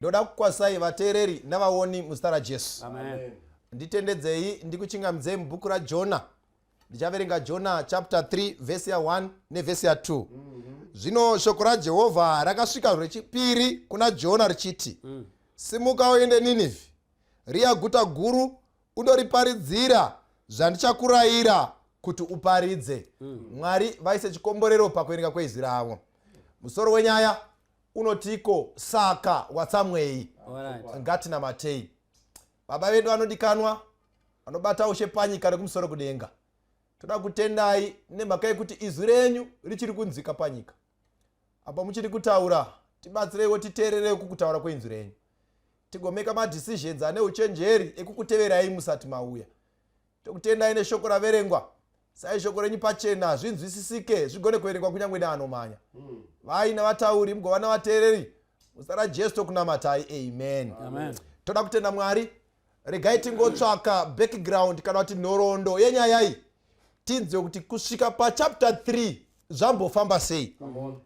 ndoda kukwasai vateereri navaoni muzita rajesu nditendedzei ndikuchingamidzei mubhuku rajona ndichaverenga jona chapter 3 vhesi ya1 nevhesi ya2 mm -hmm. zvino shoko rajehovha rakasvika rechipiri kuna jona richiti mm. simuka uende ninivhi riya guta guru undoriparidzira zvandichakurayira kuti uparidze mm. mwari vaise chikomborero pakuverenga kweizwi ravo musoro wenyaya unotiiko saka watsamwei ngatinamatei baba vedu vanodikanwa vanobata ushe panyika rekumusoro kudenga toda kutendai nemhaka yekuti izwi renyu richiri kunzika panyika apa muchiri kutaura tibatsireiwo titeerere kukutaura kweinzwi renyu tigomeka madecisions ane uchenjeri ekukuteverai musati mauya tokutendai neshoko raverengwa sai shoko renyu pachena zvinzwisisike zvigone kuverengwa kunyange neanomhanya hmm. vaina vatauri mugova navateereri muzita rajesu tokunamatai amen toda kutenda mwari regai tingotsvaka background kana kuti nhoroondo yenyayai tinzwe kuti kusvika pachapter 3 zvambofamba sei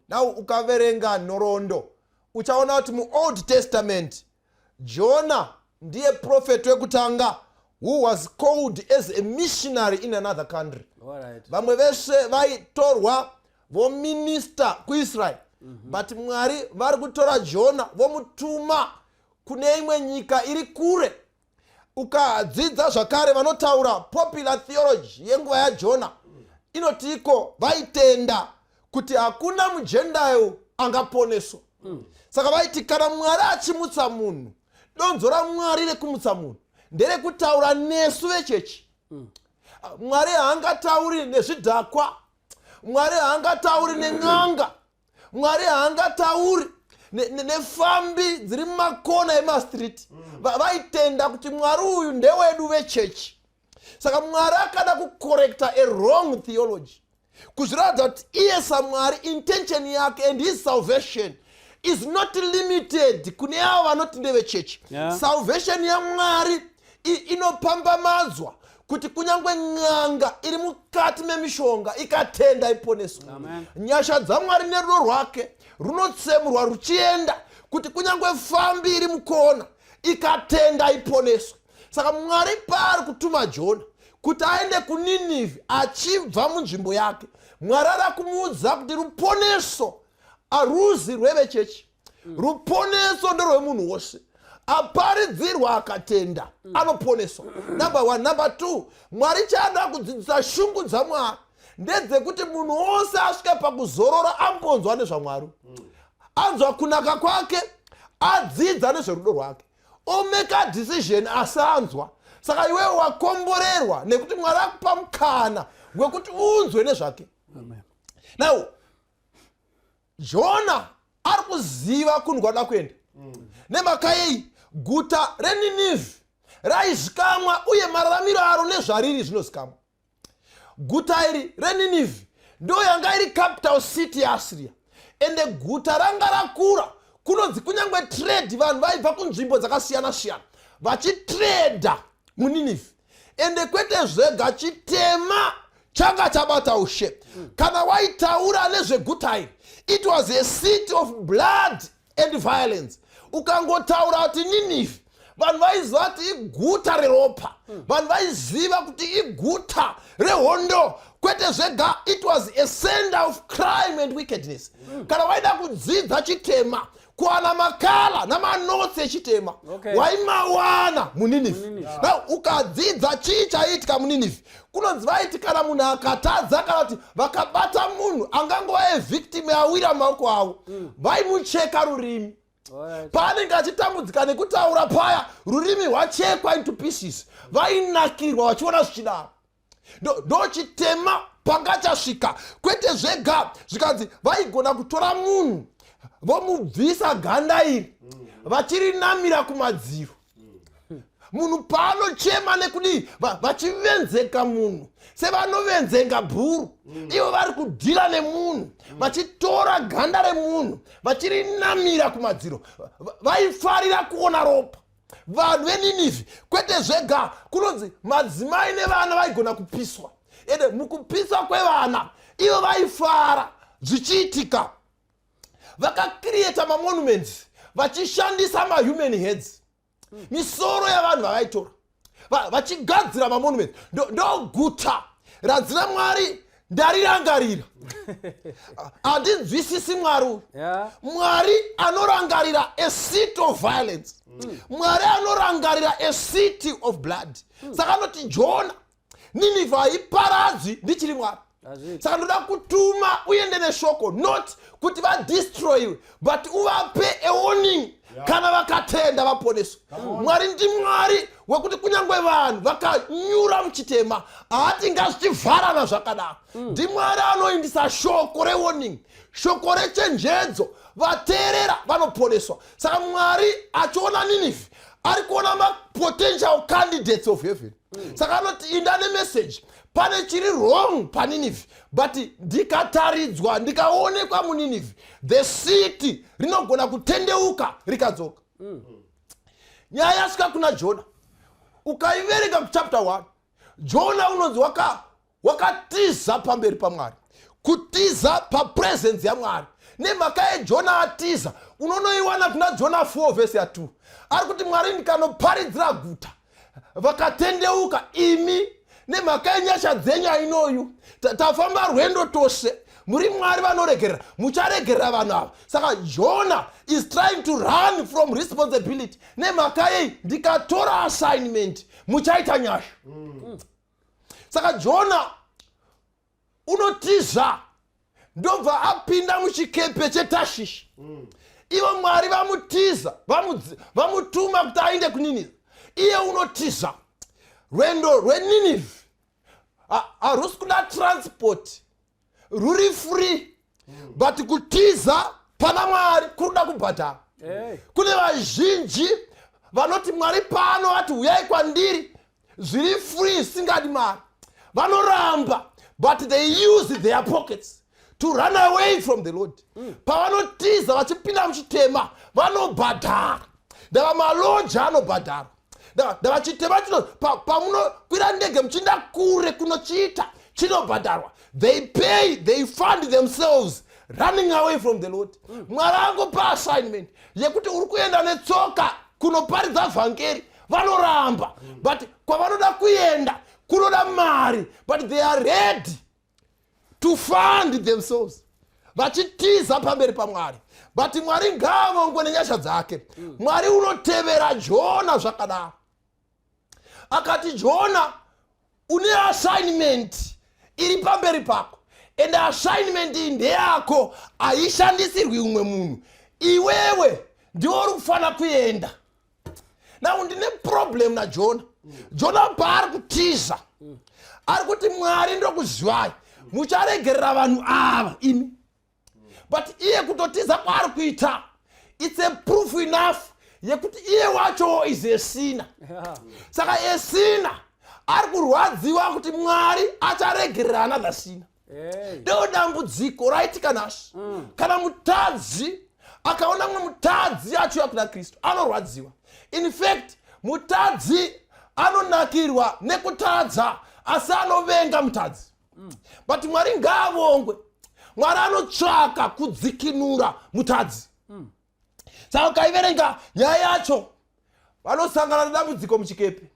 now ukaverenga nhoroondo uchaona kuti muold testament Jona ndiye prophet wekutanga who was called as a missionary in another country vamwe vese vaitorwa vominista kuisrael mhm. but mwari vari kutora jona vomutuma kune imwe nyika iri kure ukadzidza zvakare vanotaura popular theology yenguva yajona inotiiko vaitenda kuti hakuna mujendayo angaponeswa mm. saka vaiti kana mwari achimutsa munhu donzo ramwari rekumutsa munhu nderekutaura nesu vechechi mm. mwari haangatauri nezvidhakwa mwari haangatauri nen'anga mwari haangatauri nefambi ne, ne dziri mumakona emastreet mm. vaitenda kuti mwari uyu ndewedu vechechi saka mwari akada kucorrecta a wrong theology kuzviratidza kuti iye samwari intention yake and his salvation is not limited kune avo vanoti ndevechechi yeah. salvation yamwari inopambamadzwa kuti kunyange n'anga iri mukati memishonga ikatenda iponeswe nyasha dzamwari nerudo rwake runotsemurwa ruchienda kuti kunyange fambi iri mukona ikatenda iponeswe saka mwari paari kutuma jona kuti aende kuninivi achibva munzvimbo yake mwari ari kumuudza kuti ruponeso aruzi rwevechechi mm. ruponeso ndorwemunhu wose aparidzirwa akatenda mm. anoponeswa number one number two mwari chaanoda kudzidzisa shungu dzamwari ndedzekuti munhu wose asvike pakuzorora ambonzwa nezvamwari mm. anzwa kunaka kwake adzidza nezverudo rwake omake a decision asanzwa saka iwewe wakomborerwa nekuti mwari akupa mukana wekuti unzwe nezvake now jona ari kuziva kunhu kwada kuenda nemakayei guta reninivi raizikamwa uye mararamiro aro nezvariri zvinozikamwa guta iri reninivi ndo yanga iri capital city yeasiriya ende guta ranga rakura kunonzi kunyange trade vanhu vaibva kunzvimbo dzakasiyana siyana vachitreda muninivi ende kwete zvega chitema changa chabata ushe kana waitaura nezveguta iri it was a city of blood and violence ukangotaura kuti ninifi vanhu vaiziva kuti iguta reropa hmm. vanhu vaiziva kuti iguta rehondo kwete zvega it was a center of crime and wickedness hmm. kana waida kudzidza chitema kuwana makala namanotsi echitema waimawana muninifi now ukadzidza chii chaiitika muninifi kunonzi vaiti kana munhu akatadza kana kuti vakabata munhu angangova evictim awira maoko avo mm. vaimucheka rurimi paanenge achitambudzika nekutaura paya rurimi rwachekwa into pieces vainakirwa vachiona zvichidaro ndochitema pangachasvika kwete zvega zvikanzi vaigona kutora munhu vomubvisa ganda iri mm. vachirinamira kumadziro munhu paanochema nekudii vachivenzeka munhu sevanovenzenga bhuru mm. ivo vari kudhira nemunhu mm. vachitora ganda remunhu vachirinamira kumadziro vaifarira kuona ropa vanhu veninivhi kwete zvega kunonzi madzimai nevana vaigona kupiswa ende mukupiswa kwevana ivo vaifara zvichiitika vakacreata mamonuments vachishandisa mahuman heads misoro yavanhu vavaitora vachigadzira mamonuments ndoguta ranzi ramwari ndarirangarira handinzwisisi mwari uyu mwari anorangarira a seat of violence mwari anorangarira a city of blood saka anoti jona ninivha haiparadzwi ndichiri mwari saka ndoda kutuma uende neshoko not kuti vadestroyiwe but uvape awarning kana vakatenda vaponeswe mwari ndi mwari wekuti kunyange vanhu vakanyura muchitema haatinga zvichivharana zvakadaro mm. ndi mwari anoindisa shoko rewarning shoko rechenjedzo vateerera vanoponeswa saka mwari achiona ninivhi ari kuona mapotential candidates of heaven saka anoti inda nemeseji pane chiri wrong paninivi but ndikataridzwa ndikaonekwa muninivi the city rinogona kutendeuka rikadzoka mm. nyaya yasvika kuna jona ukaiverenga kuchapter 1 jona unonzi waka wakatiza pamberi pamwari kutiza papresence yamwari nemhaka yejona atiza unonoiwana kuna jona 4 vhesi ya 2 ari kuti mwari ndikanoparidzira guta vakatendeuka imi nemhaka yenyasha dzenyu ainoyu tafamba rwendo tose muri mwari vanoregerera mucharegerera vanhu ava saka jona is trying to run from responsibility nemhaka yei ndikatora assignment muchaita nyasha mm. saka jona unotiza ndobva apinda muchikepe chetashishi mm. ivo mwari vamutiza vamutuma kuti ainde kuninive iye unotiza rwendo rweninive harusi kuda transport ruri free but kutiza pana mwari kuri kuda kubhadhara kune vazhinji vanoti mwari pano vati huyai kwandiri zviri free zvisingadi mari vanoramba but they use their pockets to run away from the lord mm. pavanotiza vachipinda muchitema vanobhadhara ndava maloji anobhadhara ndavachitema chino pamunokwira ndege muchiinda kure kunochiita chinobhadharwa they pay they fund themselves running away from the lord mm. mwari angopa assignment yekuti uri kuenda netsoka kunoparidza vhangeri vanoramba mm. but kwavanoda kuenda kunoda mari but they are ready to fund themselves vachitiza pamberi pamwari but mwari ngaavongwe nenyasha dzake mm. mwari unotevera jona zvakadaro akati jona une assignment iri pamberi pako and assignment iyi ndeyako haishandisirwi umwe munhu iwewe ndiwo uri kufanira kuenda now ndine problem najona jona paari kutiza ari kuti mwari ndokuzivai mucharegerera vanhu ava imi but iye kutotiza kwaari kuita its a proof enough yekuti iye wacho is esina saka esina ari kurwadziwa kuti mwari acharegerera another sina ndeo dambudziko raitika nhasi mm. kana mutadzi akaona mumwe mutadzi achiuya kuna kristu anorwadziwa infact mutadzi anonakirwa nekutadza asi anovenga mutadzi mm. but mwari ngaavongwe mwari anotsvaka kudzikinura mutadzi mm. saka ukaiverenga nyaya yacho vanosangana nedambudziko muchikepe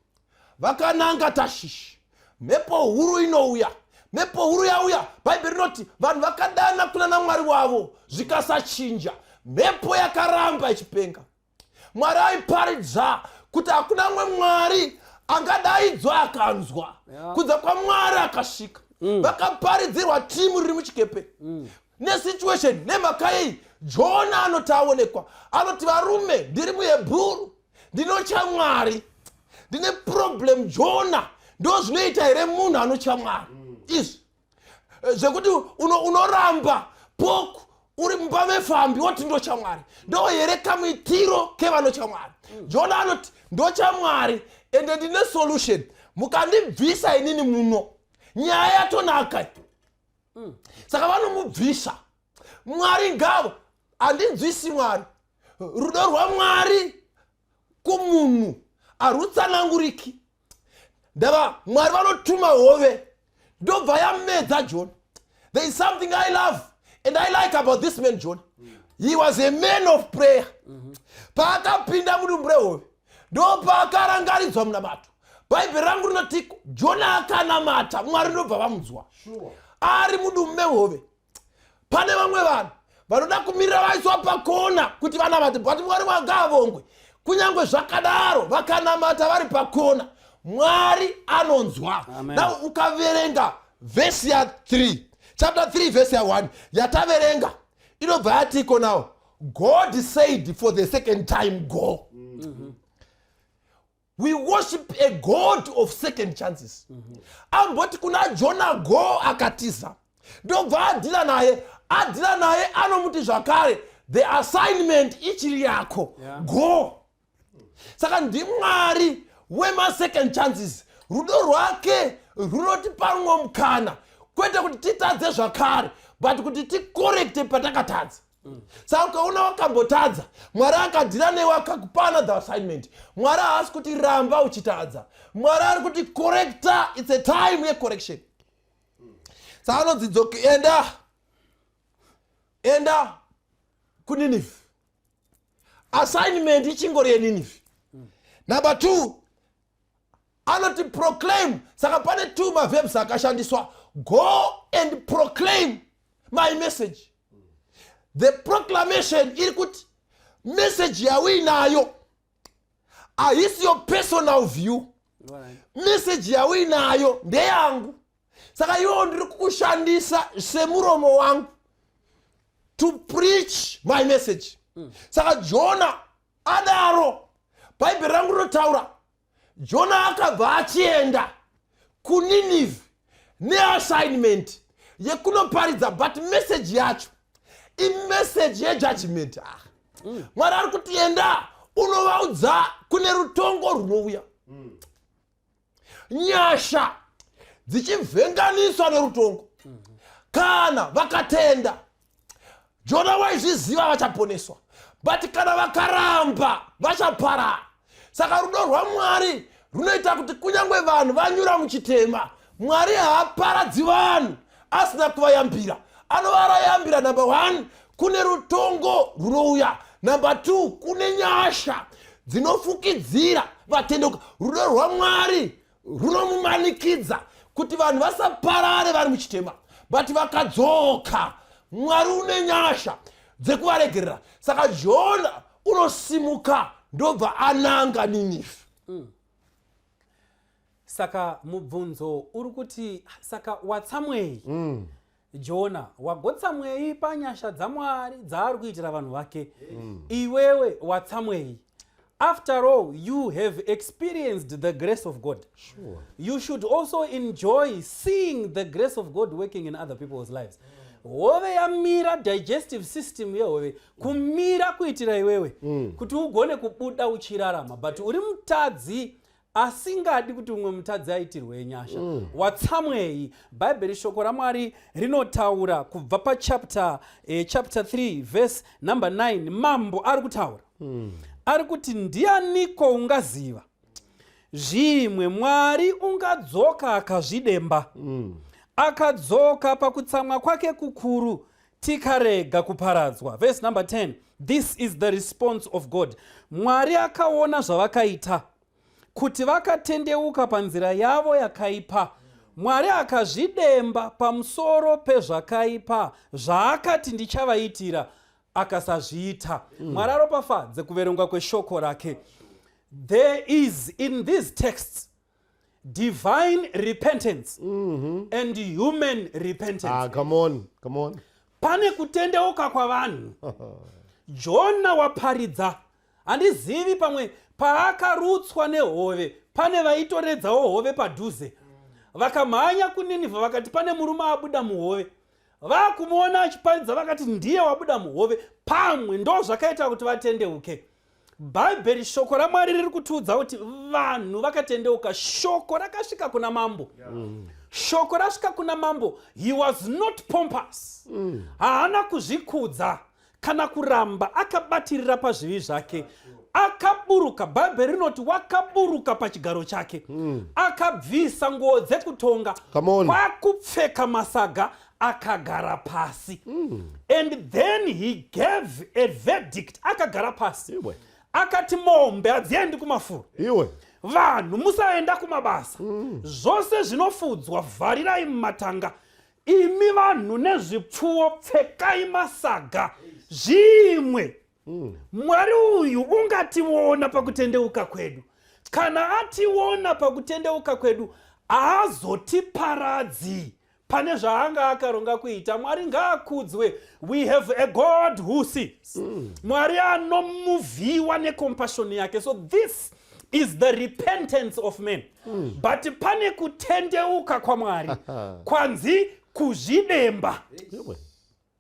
vakananga tashishi mhepo huru inouya mhepo huru yauya bhaibheri rinoti vanhu vakadana kuna namwari wavo zvikasachinja mhepo yakaramba ichipenga mwari aiparidza kuti hakuna mwe mwari angadaidzwa akanzwa yeah. kudza kwamwari akasvika mm. vakaparidzirwa timu riri muchikepe mm. nesituation nemhaka yei jona anoti aonekwa anoti varume ndiri muhebhuru ndinotya mwari ndine problem jona ndo zvinoita here munhu anotya mwari mm. izvi eh, zvekuti unoramba uno poku uri mumba mefambi woti ndotya mwari ndo here kamuitiro kevanotya mwari mm. jona anoti ndotya mwari ende ndine solution mukandibvisa inini muno nyaya yatonaka mm. saka vanomubvisa mwari ngavo handinzwisi mwari rudo rwamwari kumunhu harutsananguriki ndava mwari vanotuma hove ndobva yamedza john there is something i love and i like about this man john he was a man of prayer paakapinda mudumbu rehove ndopakarangaridzwa munamato bhaibheri rangu rinotiko jona akanamata mwari ndobva vamudzwa ari mudumu mehove pane vamwe vanhu vanoda kumirira vaiswa pakona kuti vanamate but mwari wanga avongwe kunyange zvakadaro vakanamata vari pakona mwari anonzwa now ukaverenga vhesi ya 3 chapter 3 vhesi ya 1 yataverenga inobva yatiko nawo God said for the second time go. Mm -hmm. We worship a God of second chances. Mm -hmm. Amboti kuna Jonah go akatiza. Ndobva adhila naye, adhila naye anomuti zvakare the assignment ichiri yako yeah. go. saka ndimwari wemasecond chances rudo rwake runotipa rumwe mukana kwete kuti titadze zvakare but kuti tikorekte patakatadza saka ukaona wakambotadza mwari akadhira newe akakupa another assignment mwari haasi kuti ramba uchitadza mwari ari kuti correcta its a time yecorrection saka anodzi enda enda kuninive assignment ichingori yeninifi number two anoti proclaim saka pane two mavebs akashandiswa go and proclaim my message the proclamation iri kuti message yauinayo ahisi your personal view message yauinayo ndeyangu saka iwewo ndiri kukushandisa semuromo wangu to preach my message mm. saka jona adaro bhaibheri rangu rinotaura jona akabva achienda kuninive neassignment yekunoparidza but message yacho imessage yejudgment ah. mm. mwari ari kuti enda unovaudza kune rutongo runouya mm. nyasha dzichivhenganiswa nerutongo kana vakatenda jona waizviziva vachaponeswa but kana vakaramba vachaparara saka rudo rwamwari runoita kuti kunyange vanhu vanyura muchitema mwari haaparadzi vanhu asina kuvayambira anovarayambira number one kune rutongo runouya number two kune nyasha dzinofukidzira vatendeuka rudo rwamwari runomumanikidza kuti vanhu vasaparare vari muchitema but vakadzoka mwari une nyasha dzekuvaregerera saka jona unosimuka ndobva ananga ninifi mm. saka mubvunzo uri kuti saka watsamwei mm. jona wagotsamwei panyasha dzamwari dzaari kuitira vanhu vake mm. iwewe watsamwei after all you have experienced the grace of god sure. you should also enjoy seeing the grace of god working in other people's lives hove yamira digestive system yehove kumira kuitira iwewe mm. kuti ugone kubuda uchirarama but uri mutadzi asingadi kuti umwe mutadzi aitirwe nyasha mm. watsamwei bhaibheri shoko ramwari rinotaura kubva pachapter eh, chapter 3 verse number 9 mambo ari kutaura mm. ari kuti ndianiko ungaziva zvimwe mwari ungadzoka akazvidemba mm. akadzoka pakutsamwa kwake kukuru tikarega kuparadzwa verse number 10 this is the response of god mwari akaona zvavakaita kuti vakatendeuka panzira yavo yakaipa mwari akazvidemba pamusoro pezvakaipa zvaakati ndichavaitira akasazviita mm. mwari aropafadze kuverengwa kweshoko rake there is in these texts divine repentance mm -hmm. and human repentance ah, come on, come on. pane kutendeuka kwavanhu jona waparidza handizivi pamwe paakarutswa nehove pane vaitoredzawo hove padhuze vakamhanya kuninivha vakati pane murume abuda muhove vakumuona achiparidza vakati ndiye wabuda muhove pamwe ndo zvakaita kuti vatendeuke bhaibheri shoko ramwari riri kutiudza kuti vanhu vakatendeuka shoko rakasvika kuna mambo yeah. mm shoko rasvika kuna mambo he was not pompous mm. haana kuzvikudza kana kuramba akabatirira pazvivi zvake akaburuka bhaibheri rinoti wakaburuka pachigaro chake mm. akabvisa nguo dzekutonga kwakupfeka masaga akagara pasi mm. and then he gave a verdict akagara pasi Iwe. akati mombe hadziendi kumafuro Iwe. vanhu musaenda kumabasa mm. zvose zvinofudzwa vharirai mumatanga imi vanhu nezvipfuwo pfekai masaga zvimwe mm. mwari uyu ungationa pakutendeuka kwedu kana ationa pakutendeuka kwedu haazotiparadzi pane zvaanga akaronga kuita mwari ngaakudzwe we have a god who sees mm. mwari anomuvhiwa necompassion yake so this is the repentance of men mm. but pane kutendeuka kwamwari kwanzi kuzvidemba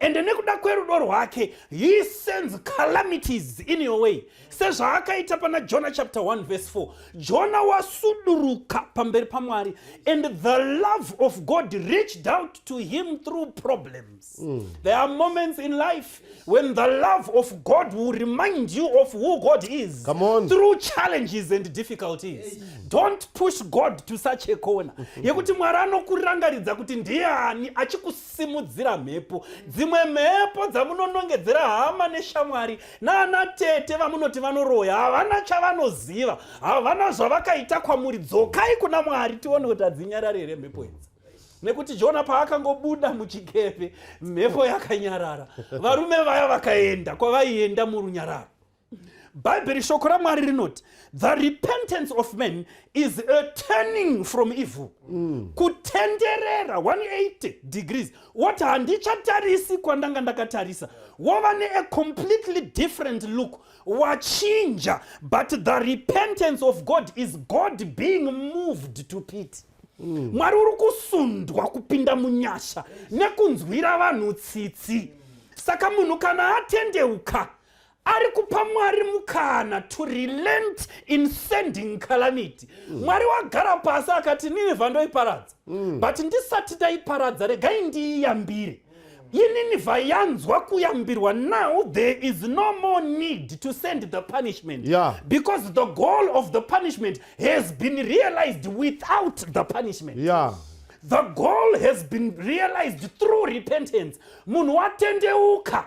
ende nekuda kwerudo rwake he sends calamities in your way sezvaakaita pana jona chapter 1 verse 4 jona wasuduruka pamberi pamwari and the love of god reached out to him through problems mm. there are moments in life when the love of god will remind you of who god is Come on. through challenges and difficulties don't push god to such a corner yekuti mwari anokurangaridza kuti ndiani achikusa simudzira mhepo dzimwe mhepo dzamunonongedzera hama neshamwari naana tete vamunoti vanoroya havana chavanoziva havana zvavakaita kwamuri dzokai kuna mwari tione kuti hadzinyarari here mhepo idzi nekuti jona paakangobuda muchikepe mhepo yakanyarara varume vaya vakaenda kwavaienda murunyararo bhaibheri shoko ramwari rinoti the repentance of man is a turning from evil mm. kutenderera 180 degrees woti handichatarisi kwandanga ndakatarisa wova nea completely different look wachinja but the repentance of god is god being moved to pity mm. mwari uri kusundwa kupinda munyasha nekunzwira vanhu tsitsi saka munhu kana atendeuka ari kupa mwari mukana to relent in sending calamity mm. mwari wagara pasi akati ninevha ndoiparadza mm. but ndisati ndaiparadza regai ndiiyambire ininivha yanzwa kuyambirwa now there is no more need to send the punishment yeah. because the goal of the punishment has been realized without the punishment yeah the goal has been realized through repentance munhu watendeuka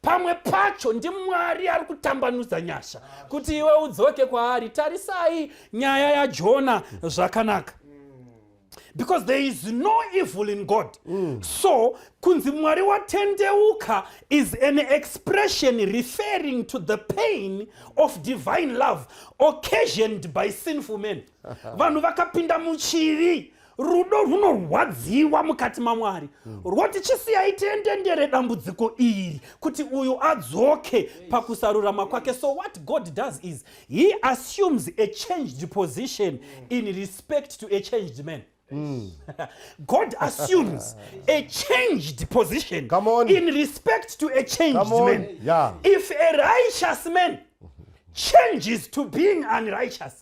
pamwe pacho ndimwari ari kutambanudza nyasha kuti iwe udzoke kwaari tarisai nyaya yajona zvakanaka because there is no evil in god mm. so kunzi mwari watendeuka is an expression referring to the pain of divine love occasioned by sinful men vanhu vakapinda muchivi rudo rwunorwadziwa mukati mamwari hmm. rwoti chisiyai tiendendere dambudziko iri kuti uyu adzoke pakusarurama kwake so what god does is he assumes a changed position in respect to a changed man Mm. God assumes a changed position Come on. in respect to a changed Come on. man. Yeah. If a righteous man changes to being unrighteous,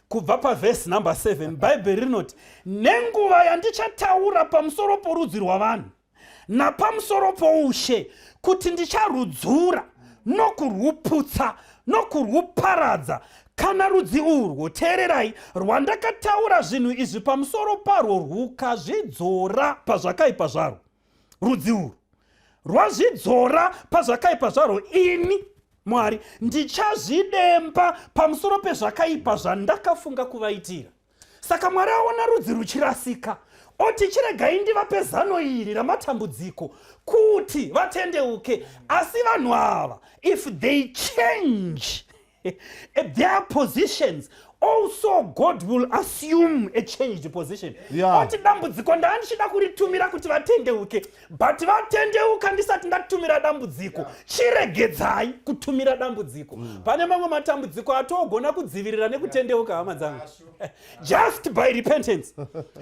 kubva pavhesi number 7 bhaibheri rinoti nenguva yandichataura pamusoro porudzi rwavanhu napamusoro poushe kuti ndicharudzura nokurwuputsa nokurwuparadza kana rudzi urwo teererai rwandakataura zvinhu izvi pamusoro parwo rwukazvidzora pazvakaipa zvarwo rudzi urwu rwazvidzora pazvakaipa zvarwo ini mwari ndichazvidemba pamusoro pezvakaipa zvandakafunga kuvaitira saka mwari aona rudzi ruchirasika oti chiregai ndivape zano iri ramatambudziko kuti vatendeuke asi vanhu ava if they change at their positions also god will assume a changed position oti dambudziko ndaa ndichida kuritumira kuti vatendeuke but vatendeuka ndisati ndatumira dambudziko chiregedzai kutumira dambudziko mm. pane mamwe matambudziko atogona kudzivirira nekutendeuka hama dzangu just by repentance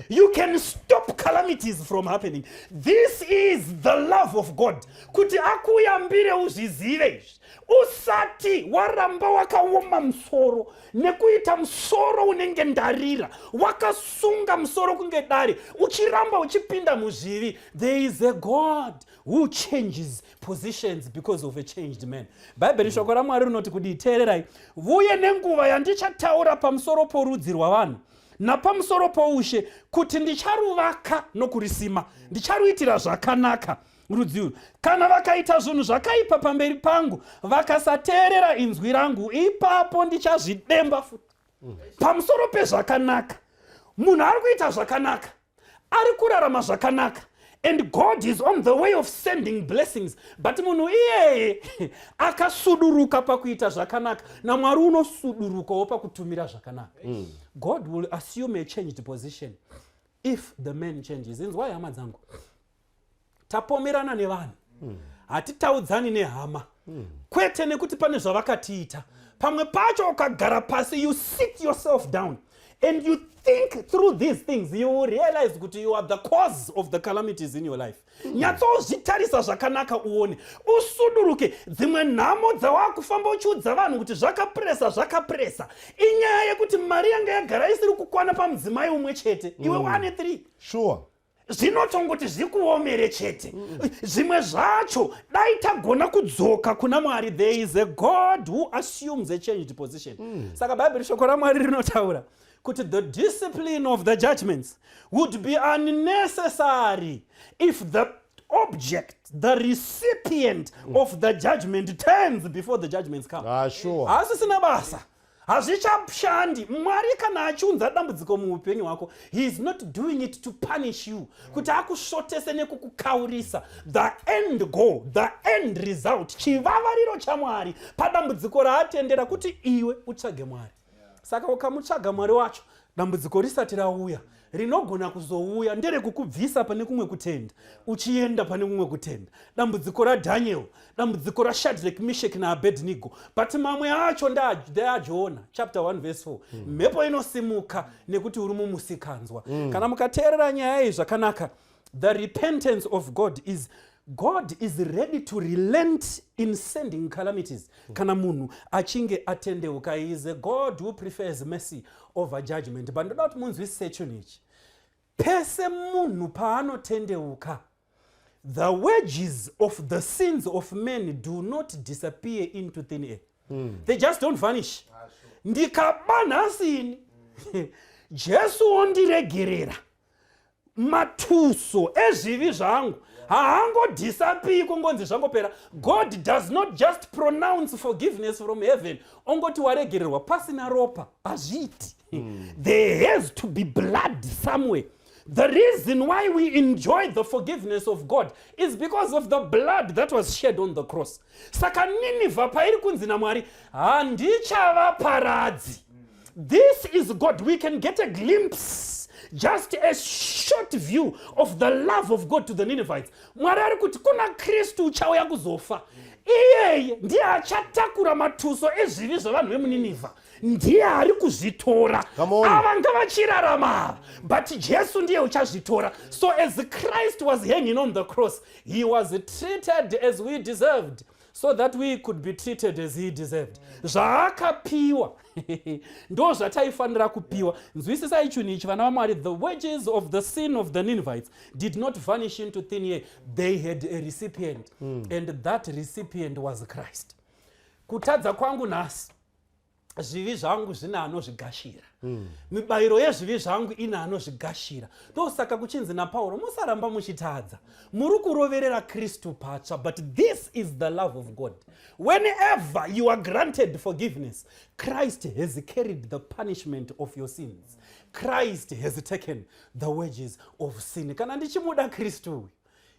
you can stop calamities from happening this is the love of god kuti akuyambire uzvizive izvi usati waramba wakaoma musoro nekuita musoro unenge ndarira wakasunga musoro kunge dare uchiramba uchipinda muzvivi there is a god who changes positions because of a changed man bhaibheri mm. shoko ramwari rinoti kudii teererai vuye nenguva yandichataura pamusoro porudzi rwavanhu napamusoro poushe kuti ndicharuvaka nokurisima ndicharuitira zvakanaka rudzi urwu kana vakaita zvinhu zvakaipa pamberi pangu vakasateerera inzwi rangu ipapo ndichazvidemba futi mm. pamusoro pezvakanaka munhu ari kuita zvakanaka ari kurarama zvakanaka and god is on the way of sending blessings but munhu iyeye akasuduruka pakuita zvakanaka namwari unosudurukawo pakutumira zvakanaka mm. god will assume a changed position if the man changes inzwai hama dzangu tapomerana nevanhu mm. hatitaudzani nehama mm. kwete nekuti pane zvavakatiita pamwe pacho ukagara pasi you sit yourself down and you think through these things you will realize kuti you are the cause of the calamities in your life mm. nyatsozvitarisa zvakanaka uone usuduruke dzimwe nhamo dzawakufamba uchiudza vanhu kuti zvakapresa zvakapresa inyaya yekuti mari yanga yagara isiri kukwana pamudzimai umwe chete iwe mm. wane three sure zvinotongoti zvikuomere chete zvimwe zvacho dai tagona kudzoka kuna mwari there is a god who assumes a changed position mm. saka bhaibheri shoko ramwari rinotaura kuti the discipline of the judgments would be unnecessary if the object the recipient mm. of the judgment turns before the judgments come ah, sure. haasisina basa hazvichashandi mwari kana achiunza dambudziko muupenyu hwako he is not doing it to punish you kuti akusvotese nekukukaurisa the end goal the end result chivavariro chamwari padambudziko raatendera kuti iwe utsvage mwari saka ukamutsvaga mwari wacho dambudziko risati rauya rinogona kuzouya nderekukubvisa pane kumwe kutenda uchienda pane kumwe kutenda dambudziko radhaniel dambudziko rashadrek mishek naabednigo but mamwe acho ndeajoona chapter 1 vese 4 hmm. mhepo inosimuka nekuti uri mumusikanzwa hmm. kana mukateerera nyaya iyi zvakanaka the repentance of god is god is ready to relent in sending calamities mm. kana munhu achinge atendeuka is a god who prefers mercy over judgment but ndoda kuti munzwisise chinhu ichi pese munhu paanotendeuka the wages of the sins of men do not disappear into thin air mm. they just don't vanish ah, ndikaba nhasini jesu ondiregerera matuso ezvivi zvangu haangodisapii kungonzi zvangopera god does not just pronounce forgiveness from heaven ongoti waregererwa pasina ropa hazviiti mm. there has to be blood somewhere the reason why we enjoy the forgiveness of god is because of the blood that was shed on the cross saka ninivha pairi kunzi namwari handichavaparadzi This is God. We can get a glimpse, just a short view of the love of God to the Ninevites. Mwari ari kuti kuna Kristu uchauya kuzofa. Iyeye ndiye achatakura matuso ezvivi zvevanhu vemuNinevha. Ndiye ari kuzvitora. Ava ngavachirarama ava. But Jesu ndiye uchazvitora. So as Christ was hanging on the cross, he was treated as we deserved. so that we could be treated as he deserved zvaakapiwa ndo zvataifanira kupiwa nzwisisai chinhu ichi vana vamwari the wages of the sin of the ninvites did not vanish into thin air they had a recipient mm. and that recipient was christ kutadza kwangu nhasi zvivi zvangu zvine anozvigashira mm. mibayiro yezvivi zvangu ine anozvigashira ndosaka kuchinzi napauro musaramba muchitadza muri kuroverera kristu patsva but this is the love of god whenever you are granted forgiveness christ has carried the punishment of your sins christ has taken the wages of sin kana ndichimuda kristu uyu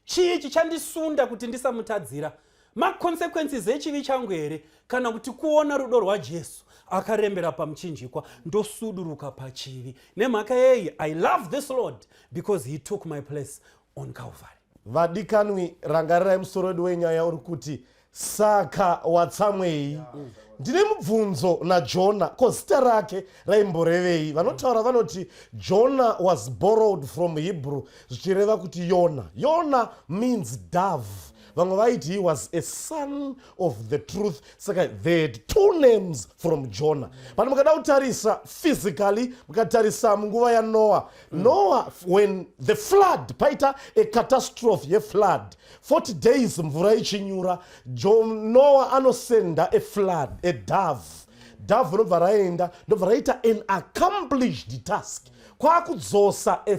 Chii chichandisunda kuti ndisamutadzira? Maconsequences echivi changu here kana kuti kuona rudo rwaJesu akarembera pamuchinjikwa ndosuduruka pachivi? Nemhaka yeyi I love this Lord because he took my place on Calvary. Vadikanwi, rangarirai musoro wedu wenyaya uri kuti Saka watsamwei? Ndine mubvunzo naJona, ko zita rake raimborevei? Vanotaura vanoti Jona was borrowed from Hebrew zvichireva kuti Yona. Yona means dove. Vamwe vaiti he was a son of the truth saka they had two names from Jona. But mukada kutarisa physically, mukatarisa munguva yaNoah. Noah when the flood paita a catastrophe yeflood. 40 days mvura ichinyura noa anosenda aflood adove dove ndobva raenda ndobva raita an accomplished task kwakudzosa e,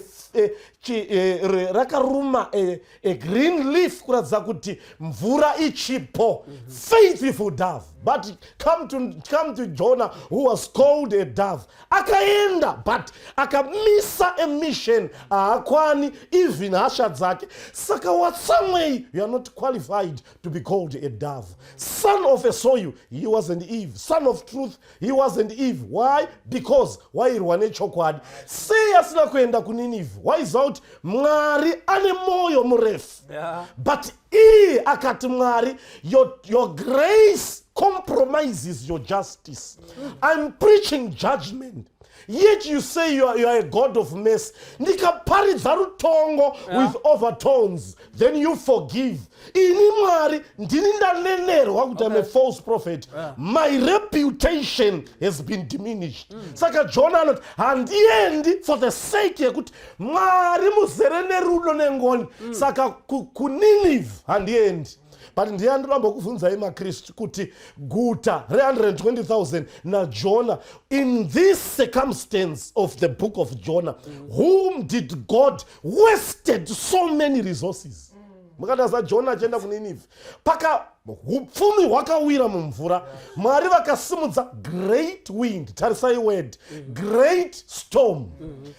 e, rakaruma e, a green leaf kuratidza kuti mvura ichipo mhm. faithful dove but come to, come to jona who was called a dove akaenda but akamisa emission haakwani even hasha dzake saka watsamwei you are not qualified to be called a dove son of a soil he wasn't eve son of truth he wasn't eve why because wairwa nechokwadi sei asina kuenda kuninive waiziva kuti mwari ane mwoyo murefu yeah. but iye akati mwari your, your grace compromises your justice i'm preaching judgment yet you say you are, you are a god of mercy ndikaparidza rutongo yeah. with overtones then you forgive ini mwari ndini ndanenerwa kuti okay. am a false prophet yeah. my reputation has been diminished mm. saka jona anoti handiendi for the sake yekuti mwari muzere nerudo nengoni mm. saka kuninive handiendi but ndiye andiramba kuvhunzai makristu kuti guta re-120 000 najona in this circumstance of the book of jonah mm. whom did god wasted so many resources mm. mukataza jona achienda kuninive paka upfumi hwakawira mumvura mwari vakasimudza great wind tarisai word great storm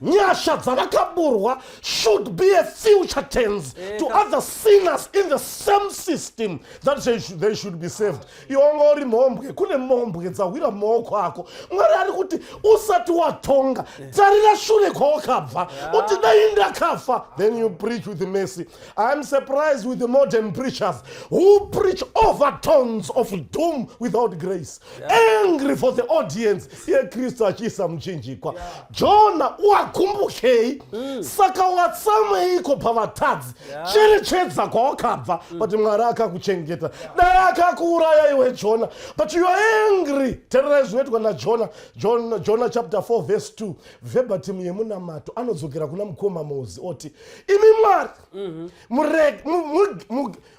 nyasha dzavakaburwa should be a future tens eh, to other sinners in the same system that they should be saved iwonga uri mhombwe kune mhombwe dzahwira maoko ako mwari ari kuti usati watonga eh. tarira shure kwawakabva uti dai ndakafa then you preach with mercy iam surprised with the modern preachers who preach over tones of doom without grace angry for the audience yekristu achiisa muchinjikwa jona wakumbukei mm. saka watsameiko pavatadzi chiri chedza kwawakabva mm. but mwari akakuchengeta dai akakuuraya iwe jona but you are angry tererai zvinoitwa najona jona, jona chapter 4 verse 2 vebatimu yemunamato anodzokera kuna mukoma mozi oti imi mwari mm-hmm.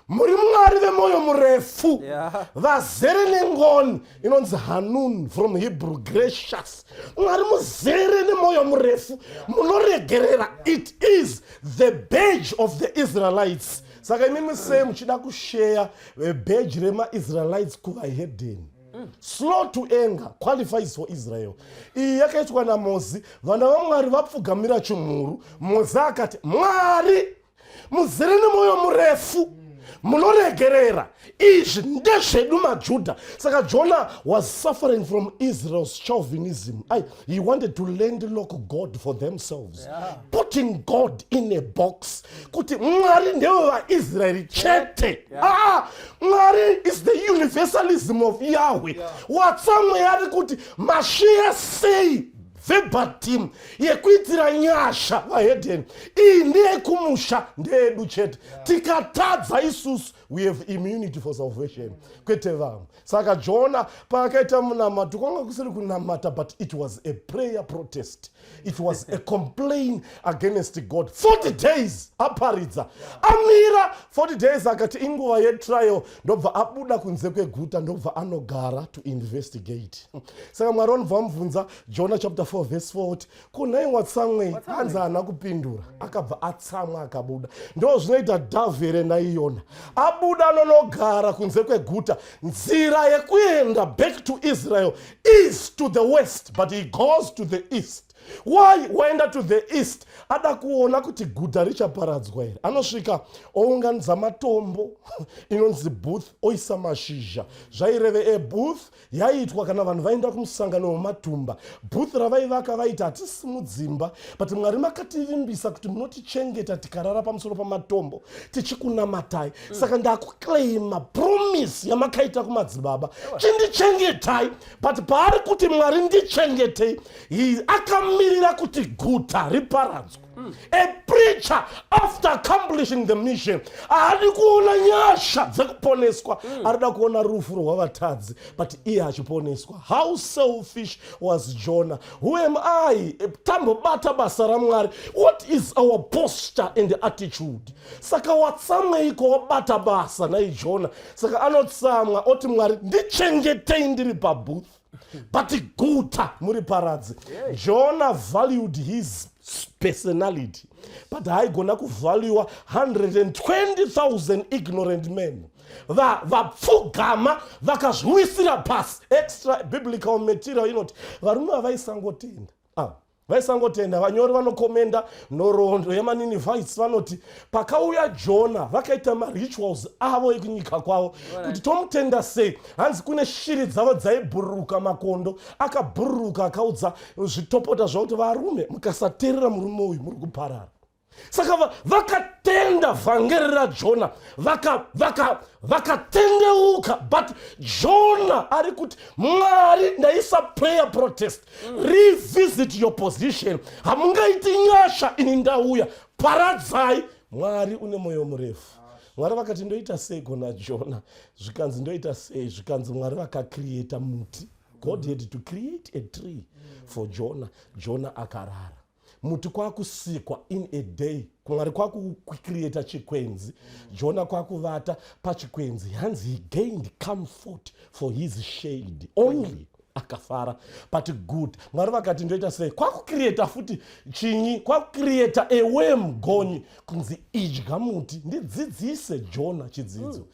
muri mwari vemwoyo murefu vazere yeah. nengoni inonzi hanun from hebrew gracious mwari muzere nemwoyo murefu munoregerera it is the badge of the israelites saka imimi sei muchida kusheya eh, badge remaisraelites kuvahedeni slow to anger qualifies for israel iyi yakaitwa namozi vana vamwari vapfugamira chimhuru mozi akati mwari muzere nemwoyo murefu munoregerera izvi ndezvedu majuda saka jona was suffering from israel's chauvinism i he wanted to landlock god for themselves yeah. putting god in a box kuti mwari ndewe vaisraeri chete yeah. ah, mwari is the universalism of yahweh yeah. watsamweya ari kuti mashiya sei Verbal team yekuitira nyasha vahedheni iyi ndeyekumusha ndeyedu chete tikatadza isusu we have immunity for salvation kwete vamwe saka jona paakaita munamato kwanga kusiri kunamata but it was a prayer protest it was a complain against god 40 days aparidza amira 40 days akati inguva yetrial ndobva abuda kunze kweguta ndobva anogara to investigate saka mwari vanobva vamubvunza jona chapter 4 vese 4 ti kunhai watsamwei anzi haana kupindura akabva atsamwa akabuda ndo zvinoita dhavhi here naiyona abuda anonogara kunze kweguta nzira yekuenda back to israel is to the west but he goes to the east why waenda to the east ada kuona kuti guta richaparadzwa here anosvika ounganidza matombo inonzi booth oisa mashizha zvaireve ebooth yaiitwa kana vanhu vaenda kumusangano wematumba booth ravaivaka vaiti hatisi mudzimba but mwari makativimbisa kuti munotichengeta tikarara pamusoro pamatombo tichikunamatai mm. saka ndakuclaima promise yamakaita kumadzibaba chindichengetai but paari kuti mwari ndichengetei He akamirira kuti guta riparadzwe mm. a preacher after accomplishing the mission haadi kuona nyasha dzekuponeswa mm. arida kuona rufu rwavatadzi but iye achiponeswa how selfish was jonah who am i tambobata basa ramwari what is our posture and attitude saka watsamweiko wabata basa naijona saka anotsamwa oti mwari ndichengetei ndiri pabooth but guta muri paradzi jona valued his personality but haigona kuvaluwa 120000 ignorant men vapfugama vakazviwisira pasi extra biblical material inoti varume vavaisangotenda ah, vaisangotenda vanyori vanokomenda nhoroondo yemaninivites vanoti pakauya jona vakaita marituals avo ekunyika kwavo kuti tomutenda sei hanzi kune shiri dzavo dzaibhururuka makondo akabhururuka akaudza zvitopota zvakuti varume mukasateerera murume uyu muri kuparara saka vakatenda vhangeri rajona vakatendeuka vaka, vaka but jona ari kuti mwari ndaisa prayer protest mm. revisit your position hamungaiti nyasha ini ndauya paradzai mwari une mwoyo murefu mwari vakati ndoita sei gona jona zvikanzi ndoita sei zvikanzi mwari vakakrieta muti god had to create a tree for jona jona akarara muti kwakusikwa in a day mwari kwakucreata chikwenzi jona kwakuvata pachikwenzi hanzi he gained comfort for his shade only akafara but good mwari vakati ndoita sei kwakucreata futi chinyi kwakucreata awem gonyi kunzi idya muti ndidzidzise jona chidzidzo mm.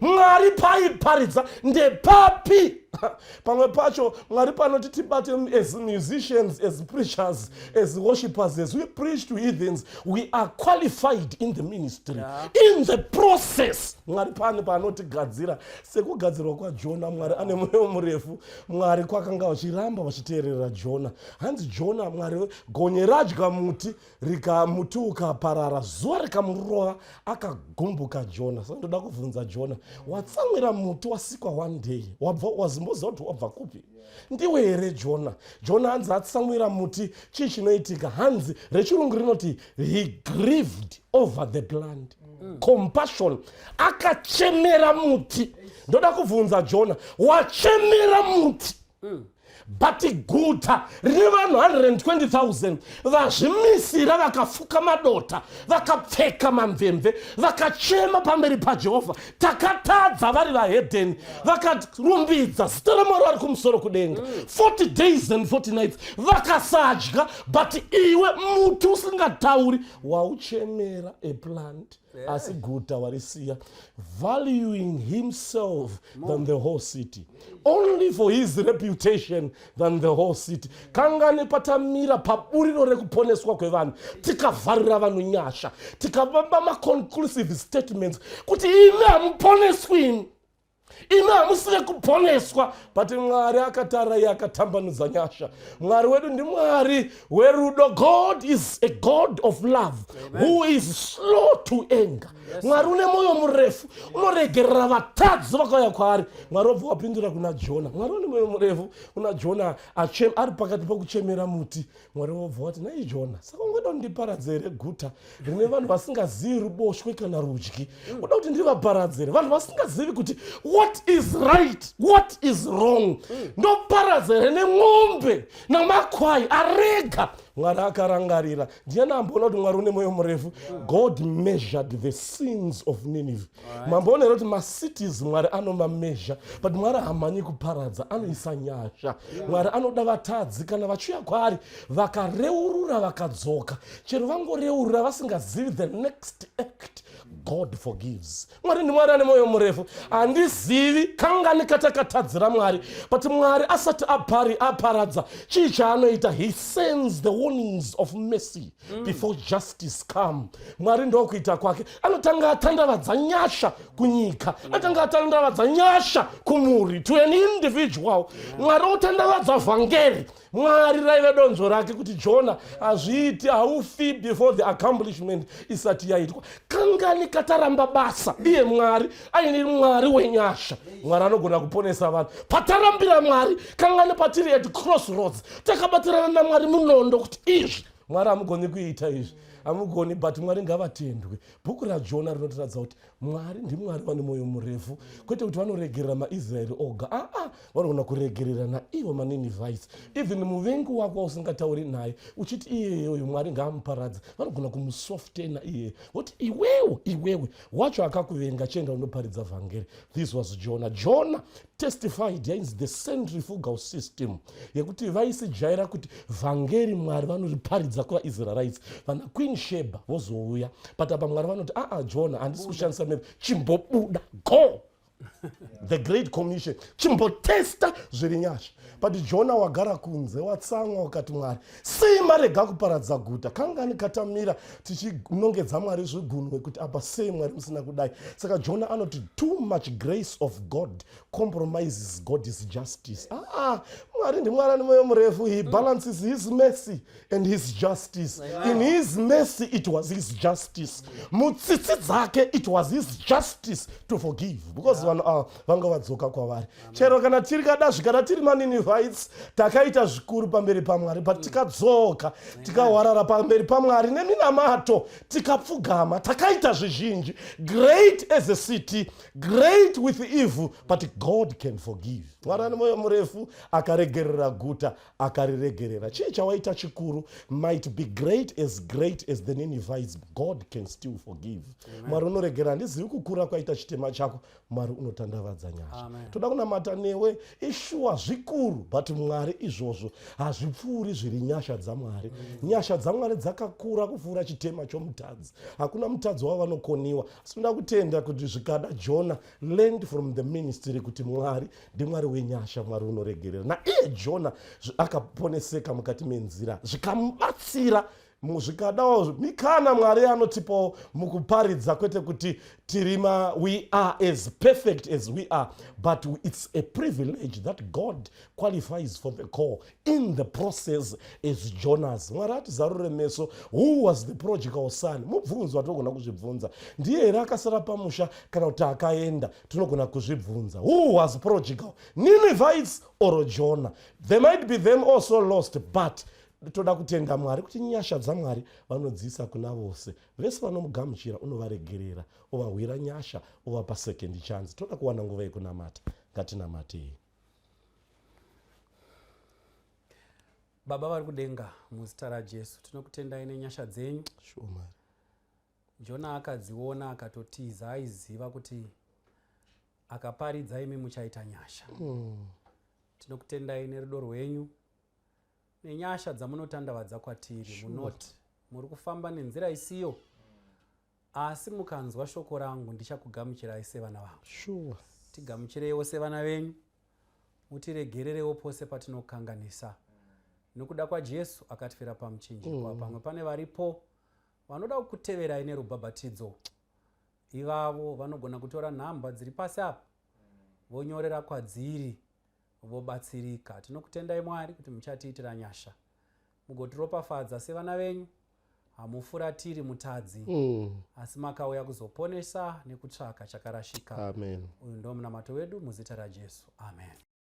mwari paiparidza ndepapi pamwe pacho mwari panoti tibate as musicians as preachers as worshippers as we preach to heathens we are qualified in the ministry yeah. in the process mwari pane paanotigadzira sekugadzirwa kwajona mwari ane mweyo murefu mwari kwakanga vachiramba vachiteerera jona hanzi jona mwari gonye radya muti rikamuti ukaparara zuva rikamurova akagumbuka jona sa ndoda kubvunza jona watsamwira muti wasikwa one day wabva wazimboziva kuti wabva kupi ndiwe here jona jona hanzi atsamwira muti chii chinoitika hanzi rechirungu rinoti he grieved over the plant mm. compassion akachemera muti ndoda kubvunza jona wachemera muti mm. but guta rine vanhu 120000 vazvimisira vakafuka madota vakapfeka mamvemve vakachema pamberi pajehovha takatadza vari vahedheni vakarumbidza zita ramwari vari kumusoro kudenga 40 mm. days and 40 nights vakasadya but iwe muti usingatauri wauchemera eplant asi guta warisiya valuing himself than the whole city only for his reputation than the whole city kangani patamira paburiro rekuponeswa kwevanhu tikavharira vanhu nyasha tikavamba maconclusive statements kuti imi hamuponeswini imi hamusi vekuponeswa but mwari akatarira iye akatambanudza nyasha mwari wedu ndimwari werudo god is a god of love Amen. who is slow to anger yes. mwari une mwoyo murefu unoregerera vatadzi vakauya kwaari mwari wabva wapindura kuna jona mwari une mwoyo murefu kuna jona ari pakati pokuchemera muti mwari wobva wati nai jona saka ungoda kundiparadza here guta rine vanhu vasingazivi ruboshwe kana rudyi mm. uda kuti ndivaparadze here vanhu vasingazivi kuti what is right what is wrong mm. ndoparadza here nemombe namakwai arega mwari akarangarira ndiani amboona kuti mwari une mwoyo murefu mm. god measured the sins of nineveh mambo unoera kuti macities mwari anomamezha but mwari hamhanyi kuparadza anoisa nyasha mwari anoda vatadzi kana vachiuya kwaari vakareurura vakadzoka chero vangoreurura vasingazivi the next act god forgives mwari ndimwari ane mwoyo murefu handizivi kangani katakatadzira mwari but mwari asati apari aparadza chii chaanoita he sends the warnings of mercy mm. before justice come mwari ndokuita kwake anotanga atandavadza nyasha kunyika mm. anotanga atandavadza nyasha kumuri to an individual mwari mm. otandavadza vhangeri mwari raive donzo rake kuti jona hazviiti haufi before the accomplishment isati yaitwa kangani kataramba basa iye mwari aine mwari wenyasha mwari anogona kuponesa vanhu patarambira mwari kangani patiri at cross roads takabatirana namwari munondo kuti izvi mwari hamugoni kuita izvi hamugoni but mwari ngavatendwe bhuku rajona rinotiratidza kuti mwari ndimwari vane mwoyo murefu kwete kuti vanoregerera maisraeri oga aa ah, ah. vanogona kuregerera naivo maninivaisi even muvengi wako wausingatauri naye uchiti iyeyoyo mwari ngaamuparadze vanogona kumusoftena iyeye voti iwewe iwewe wacho akakuvenga chienda unoparidza vhangeri this was jona jona testified yainzi the centrifugal system yekuti vaisijaira kuti vhangeri mwari vanoriparidza kuvaisraelites vana queen sheba vozouya but apa mwari vanoti aa ah, ah, jona handisi kushandisa miri chimbobuda go the great commission chimbotesta zviri nyasha but jona wagara kunze watsamwa ukati mwari sei marega kuparadza guta kangani katamira tichinongedza mwari zvigunwe kuti apa sei mwari musina kudai saka jona anoti too much grace of god compromises god is justice aa ah, ah, mwari ndimwari ane mwoyo murefu he balances his mercy and his justice in his mercy it was his justice mutsitsi dzake it was his justice to forgive because vanhu ava vanga vadzoka kwavari chero kana tiri kadazvi kana tiri maninivites takaita zvikuru pamberi pamwari but tikadzoka tikawarara pamberi pamwari neminamato tikapfugama takaita zvizhinji great as a city great with evil but god can forgive mwari ane mwoyo murefu akaregerera guta akariregerera chii chawaita chikuru might be great as great as the ninivites god can still forgive mwari unoregerera handizivi kukura kwaita chitema chako mwari unotandavadza nyasha toda kunamata newe ishuwa zvikuru but mwari izvozvo hazvipfuuri zviri nyasha dzamwari mm. nyasha dzamwari dzakakura kupfuura chitema chomutadzi hakuna mutadzi wavo vanokoniwa asi toda kutenda kuti zvikada jona learned from the ministry kuti mwari ndimwari wenyasha mwari unoregerera naiye jona akaponeseka mukati menzira zvikamubatsira zvikadawo mikana mwari anotipawo mukuparidza kwete kuti tirima we are as perfect as we are but it's a privilege that god qualifies for the call in the process as jonas mwari atizarure meso who was the prodigal son mubvunzo atogona kuzvibvunza ndiye here akasara pamusha kana kuti akaenda tinogona kuzvibvunza who was prodigal ninivites or jona they might be them also lost but toda kutenda mwari kuti nyasha dzamwari vanodziisa kuna vose vese vanomugamuchira unovaregerera ovahwira nyasha ovapa second chance toda kuwana nguva yekunamata ngatinamatei baba vari kudenga muzita rajesu tinokutendai nenyasha dzenyu sure, Jona akadziona akatotiza aiziva kuti akaparidza imi muchaita nyasha. Mm. Tinokutendai nerudo rwenyu nenyasha dzamunotandavadza kwatiri sure. munoti muri kufamba nenzira isiyo asi mukanzwa shoko rangu ndichakugamuchirai sevana vangu sure. tigamuchireiwo sevana venyu mutiregererewo pose patinokanganisa nokuda kwajesu akatifira pamuchinjikwa mm. pamwe pane varipo Vanoda kukuteverai nerubhabhatidzo ivavo vanogona kutora nhamba dziri pasi apa vonyorera kwadziri vobatsirika. Tinokutendai Mwari kuti muchatiitira nyasha mugotiropafadza sevana venyu hamufuratiri mutadzi mm. asi makauya kuzoponesa nekutsvaka chakarashika uyu ndomunamato wedu muzita rajesu amen